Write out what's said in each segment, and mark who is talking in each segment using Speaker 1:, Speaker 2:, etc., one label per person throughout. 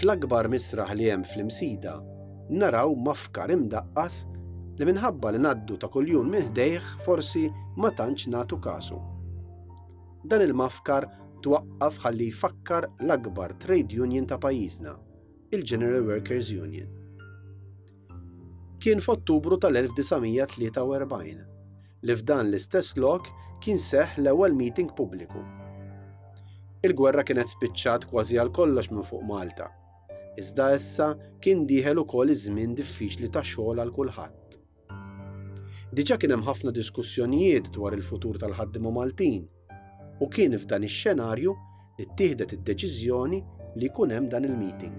Speaker 1: Fl-akbar misraħ li hemm fl-Imsida naraw mafkar imdaqqas li minħabba li ngħaddu ta' kuljum minn ħdejh forsi ma tantx nagħtu kasu. Dan il-mafkar twaqqaf ħalli jfakkar l-akbar trade union ta' pajjiżna, il-General Workers Union. Kien f'Ottubru tal-1943 li f'dan l-istess lok kien seħħ l-ewwel meeting pubbliku. Il-gwerra kienet spiċċat kważi għal kollox minn fuq Malta, iżda issa kien dieħel ukoll iż-żmien diffiċli ta' xogħol għal kulħadd. Diġà kien hemm ħafna diskussjonijiet dwar il-futur tal-ħaddiema Maltin, U kien f'dan ix-xenarju li ttieħdet id-deċiżjoni li jkun hemm dan il-meeting.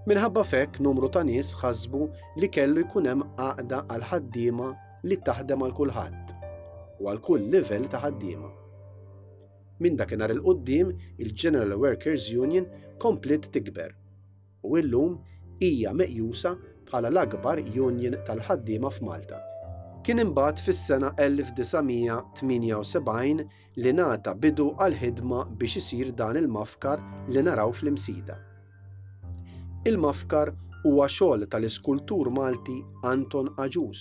Speaker 1: Minħabba fekk numru ta' nies ħasbu li kellu jkun hemm għaqda għal ħaddiema li taħdem għal kulħadd u għal kull livell ta' ħaddiema. Minn dakinhar il-qudiem il-General Workers Union kompliet tikber u illum hija meqjusa bħala l-akbar union tal-ħaddiema f'Malta. Kien imbagħad fis-sena 1978 li ngħata bidu għall-ħidma biex isir dan il-mafkar li naraw fl-Imsida. Il-mafkar huwa xogħol tal-iskultur Malti Anton Agius.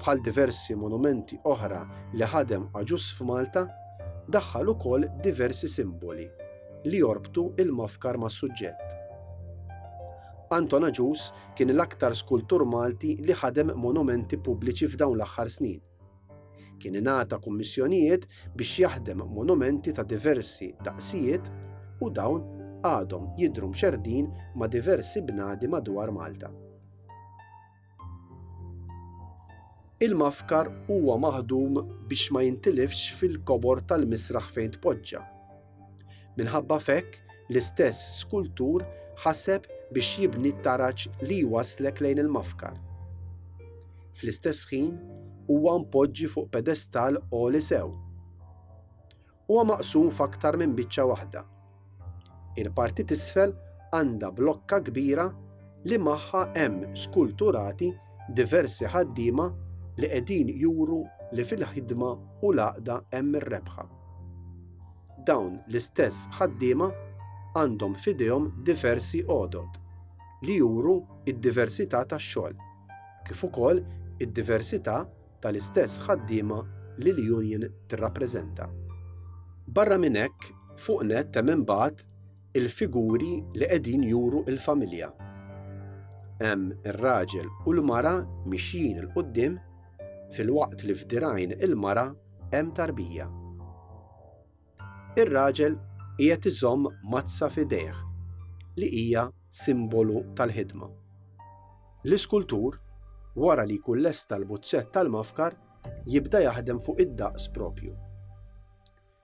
Speaker 1: Bħal diversi monumenti oħra li ħadem Agius f'Malta, daħħal ukoll diversi simboli li jorbtu l-mafkar mas-suġġett. Anton Agius kien l-aktar skultur Malti li ħadem monumenti pubbliċi f'dawn l-aħħar snin. Kien ingħata kummissjonijiet biex jaħdem monumenti ta' diversi daqsijiet u dawn għadhom jidhru mxerrdin ma' diversi bnadi madwar Malta. Il-mafkar huwa maħdum biex ma jintilifx fil-kobor tal-misraħ fejn tpoġġa. Minħabba f'hekk, l-istess skultur ħaseb biex jibni t-taraġ li jwasslek lejn il-mafkar. Fl-istess ħin, huwa mpoġġi fuq pedestal għoli sew. Huwa maqsum f'aktar minn biċċa waħda. Il-parti t'isfel għandha blokka kbira li magħha hemm skulturati diversi ħaddiema li qegħdin juru li fil-ħidma u l-għaqda hemm ir-rebħa. Dawn l-istess ħaddiema għandhom f'idejhom diversi għodod li juru d-diversità tax-xogħol, kif ukoll id-diversità tal-istess ħaddiema li l-union tirrappreżenta. Barra minn hekk, fuq nett hemm imbagħad il-figuri li qegħdin juru l-familja. Hemm ir-raġel u l-mara mixjin il quddiem filwaqt li f'dirajn il-mara hemm tarbija. Ir-raġel qiegħed iżomm mazza f'idejh li hija simbolu tal-ħidma. L-iskultur, wara li jkun lesta l-buzzett tal-mafkar, jibda jaħdem fuq id-daqs propju.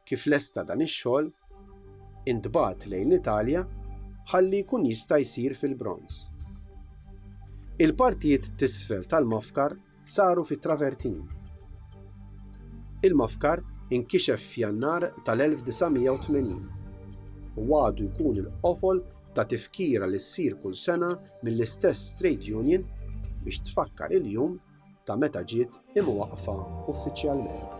Speaker 1: Kif lesta dan ix-xogħol, intbagħat lejn l-Italja ħalli jkun jista' jsir fil-bronz. Il-partijiet t'isfel tal-mafkar saru fit-travertin. Il-mafkar inkixef f'Jannar tal-1980 u għadu jkun il-qofol ta' tifkira li ssir kull sena mill-istess trade union biex tfakkar il-jum ta' meta ġiet imwaqqfa uffiċjalment.